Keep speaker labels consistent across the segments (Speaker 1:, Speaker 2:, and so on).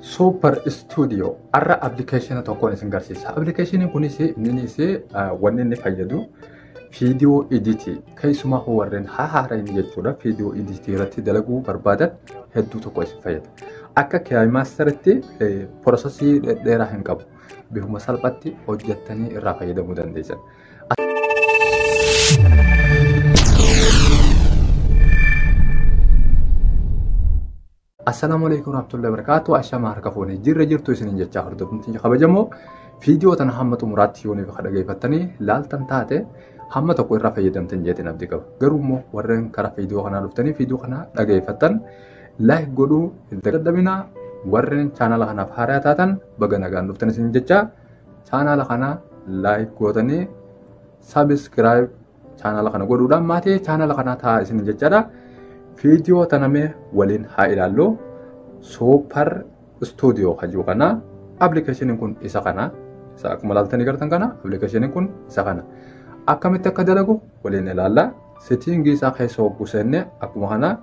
Speaker 1: Super Studio har'a appilikeeshina tokkoon isin garsiisa. Appilikeeshiniin kunis innis wanni inni fayyadu viidiyoo editii keessumaa warreen haaraa inni jechuudha viidiyoo editii irratti dalaguu barbaadan hedduu tokko isin fayyada. Akka kiyaamaastaritti porosesii dheeraa hin qabu. Bifuma salphatti hojjettanii irraa fayyadamuu dandeessan. Assalaamu alaikum warahmatullahi wabarakatuh. Ashama harka fuune jirra jirtu isinin jechaa hordofni kabajamoo viidiyoo tana hamma xumuraatti yoonii bakka dhageeffattanii laaltan taate hamma tokko irraa fayyadamtan jeetiin abdii qaba. Garuu immoo warreen karaa viidiyoo kanaa dhuftanii viidiyoo kana dhageeffattan laayik godhuu hin dadhabinaa warreen chaanaala kanaaf haaraa taatan baga nagaan dhuftan isin jechaa chaanaala kana laayik gootanii sabiskiraayib Chaanala kana godhuudhaan maatii chaanala kanaa ta'a isin jechaadha. Viidiyoo tana mee waliin haa ilaallu. Suupar istuudiyoo kan jiru kana appilikeeshiniin kun isa kana. Isa akkuma ilaaltanii gartan kana appilikeeshiniin kun isa kana. Akkamitti akka dalagu waliin ilaalla. Sitiingii isaa keessa hogguu seenne akkuma kana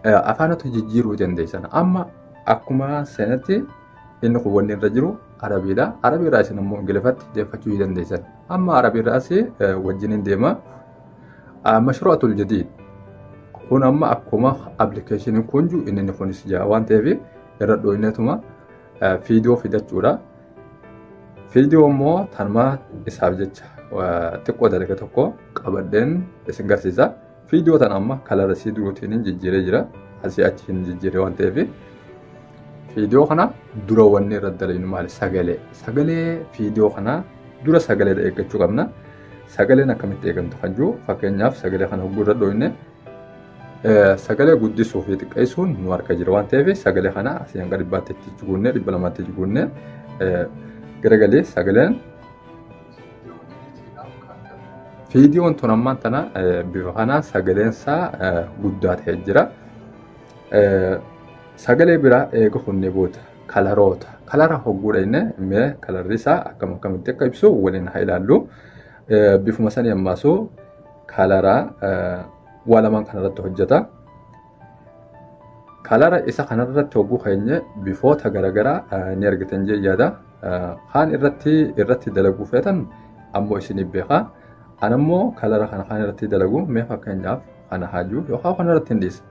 Speaker 1: afaanota jijjiiruu dandeessan. Amma akkuma seenatti inni kun wanni irra jiru arabiidha. Arabiirraa isin immoo ingiliffatti deeffachuu ni dandeessan. Amma arabiirraas wajjiniin deema. Mashruu'atul jadiid kun amma akkuma appilikeeshiniin kun jiru inni kunis jira waan ta'eef irra dhooyinatuma fiidiyoo fidachuudha. Fiidiyoo immoo tanuma isaaf jecha xiqqoo dalga tokko qabadheen isin garsiisa. Viidiyoo tana amma kalara isii duruutiin hin jijjiiree jira. Asii achi hin jijjiiree waan ta'eef. Viidiyoo kana dura wanni irra dalaynu maali? Sagalee. Sagalee viidiyoo kana dura sagalee eeggachuu qabna. Sagaleen akkamitti eegamtu kan jiru fakkeenyaaf sagalee kana hogguu irra dhooyne sagalee guddisuu fi xiqqeessuun nu harka jira waan ta'eef sagalee kana asii hanga dhibbaatti itti jiguunnee dhibba lamaatti jiguunnee garagalee sagaleen Viidiyoon tun ammaan tana bifa kanaan sagaleen isaa guddaa ta'ee jira. Sagalee biraa eega funnee booda kalaroota. Kalara hogguudha inni mee kalarri isaa akkam akkamitti akka ibsu waliin haa ilaallu. Bifuma sanii ammaasuu kalaraa waa lamaan kanarratti hojjeta. kalara isa kanarratti hogguu keenya bifoota garaagaraa ni argitan jee yaada kaan irratti irratti dalaguu feetan ammoo isiniif beekaa an ammoo kalara kana kaan irratti dalagu mee fakkeenyaaf kana haajuu yookaan kana irratti hin dhiisa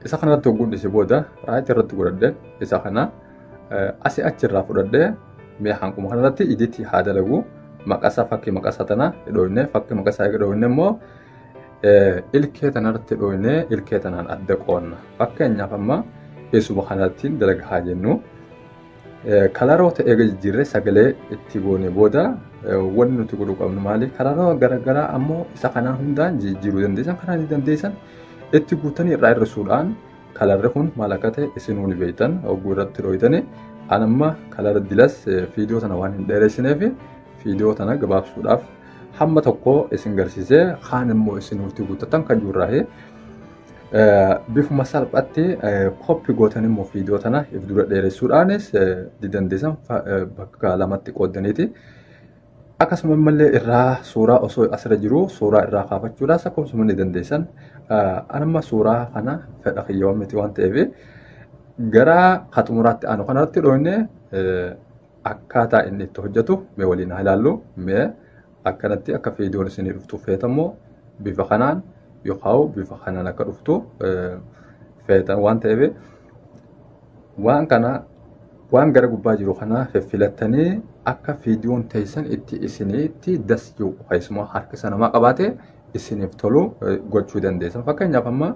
Speaker 1: isa kana irratti hogguun dhiise booda raayit irratti godhadhe isa kana asi achi irraa fudhadhe mee hanquma kana irratti iditti haa dalagu maqasaa fakkii maqasaa tana hidhoofne fakkii maqasaa hidhoofne immoo ilkee tanarratti dhooynee ilkee tanaan adda qoonna. Fakkeenyaaf amma eessuma kanatti dalaga haa jennu. Kalaroota eega jijjiirree sagalee itti goone booda wanti nuti godhuu qabnu maali? Kalaroota garaagaraa ammoo isa kanaa hundaan jijjiiruu dandeessan kanaa ni dandeessan itti guutanii irraa hir'isuudhaan kalarri kun maal akka ta'e isin wal beektan oguu irratti dhooytani. An amma kalara dilas fiidiyoo sana waan hin dheeressineef fiidiyoo sana gabaabsuudhaaf hamma tokko isin garsiisee kaan immoo isin nuti guuttatan kan jirraahe bifuma salphaatti koppi gootan immoo viidiyoo tana if dura dheeressuudhaanis didandeessan bakka lamatti qooddaniiti. Akkasuma immallee irraa suuraa osoo asirra jiru suuraa irraa kaafachuudhaas akkasuma ni dandeessan. Anamma suuraa kana fedha kiyyaawwan miti waan ta'eef gara ka xumuraatti aanu kanarratti dhooyne akkaataa inni itti hojjetu mee waliin haa ilaallu mee akkanatti akka viidiyoon isinii dhuftu feetammoo bifa kanaan yookaan bifa kanaan akka dhuftu feetan waan ta'eef waan kana waan gara gubbaa jiru kana filattanii akka viidiyoon teessan itti isiniitti dasiyuu keessumaa harkisa namaa qabaate isiniif tolu gochuu dandeessan fakkeenyaaf amma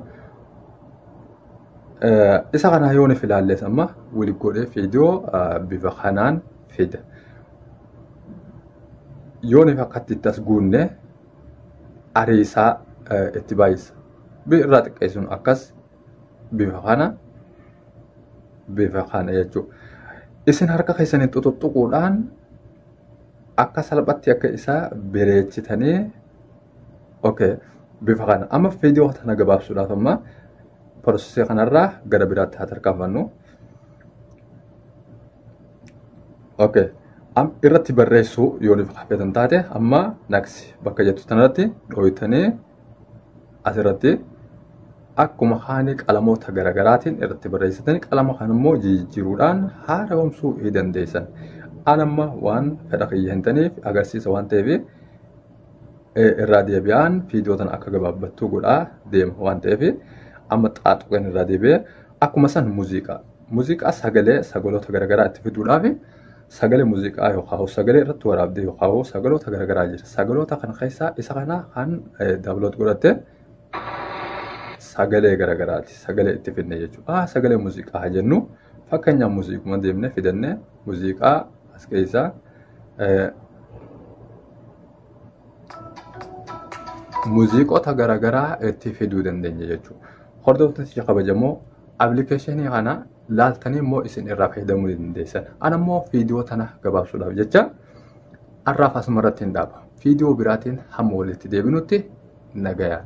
Speaker 1: Isa kana yoo nuuf ilaalles amma wili godhee fiidiyoo bifa kanaan fida. Yoo nuuf akkatti itti as guunne ariisaa itti baay'isa. Irraa xiqqeessuun akkas bifa kana bifa kana jechuudha. Isin harka keessaniin xuxuxuquudhaan akka salphatti akka isaa bireechitanii Okay. Bifa kana. Amma viidiyoo kana gabaabsuudhaaf amma prosesii kanarraa gara biraatti haa tarkaanfannu. Okay. Am irratti barreessuu yoo nuuf hafeetan taate amma naksi bakka jettu tanarratti dhooytanii asirratti akkuma haani qalamoota garaagaraatiin irratti barreessitanii qalama kan immoo jijjiiruudhaan haara'umsuu ni dandeessan. An amma waan fedha kiyya hin taneef agarsiisa waan ta'eef irraa deebi'aan viidiyoo tana akka gabaabbattuu godhaa deema waan ta'eef amma xaaxuqeen irraa deebi'ee akkuma san muuziqaa muuziqaa sagalee sagaloota garaagaraa itti fiduudhaaf sagalee muuziqaa yookaan sagalee irratti waraabdee yookaan sagaloota garaagaraa jira sagaloota kana keessaa isa kana kan daawunlood godhatte sagalee garaagaraati sagalee itti fidne jechuudha sagalee muuziqaa jennu fakkeenyaaf muuziquma deemnee fidannee muuziqaa As keessaa muuziqota garaagaraa itti fiduu dandeenya jechuudha. Hordoftoota kabajamoo appilikeeshinii kana laaltanii immoo isin irraa fayyadamuu dandeessan. Ana immoo viidiyoo tana gabaabsuudhaaf jecha har'aaf asuma irratti hin dhaaba. Viidiyoo biraatiin hamma walitti deebinutti nagayaan.